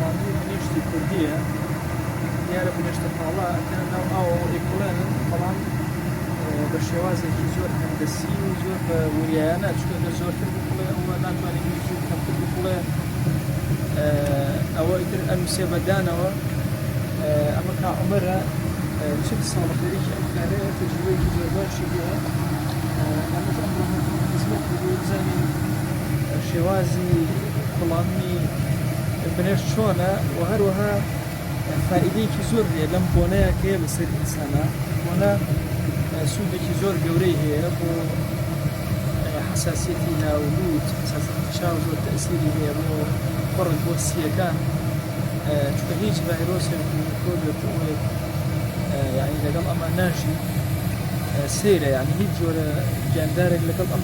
ڕادیۆ هەموو شتی کوردیە دیارە بنێشتە پاڵا ئەکەنە ناو ئاوە و ئەیکوڵێنن بەڵام بە شێوازێکی زۆر هەندەسی و زۆر بە وریایانە چکە گەر زۆرتر بکڵێ ئەوە ناتوانێت ویکی و کەمتر بکڵێ ئەوە ئیتر ئەنووسێ بەدانەوە ئەمە کا عمرە چ ساڵ خەریکی ئەم کارەیە تەجروبەیەکی زۆر باشی هەیە ئەمەش ئەم خزمەت بزانین شێوازی کوڵاندنی بنەش چۆنە و هەروەها فائیدەیەکی زۆر هەیە لەم بۆنەیە کە لەسەر ئینسانە بۆنە سوودێکی زۆر گەورەی هەیە بۆ حساسیەتی ناولود چاو زۆر تەسیری هەیە بۆ بڕک بۆ سیەکان چکە هیچ ڤایرۆسێک یعنی لەگەڵ ئەمە ناژی سێرە یعنی هیچ جۆرە گیاندارێک لەگەڵ ئەم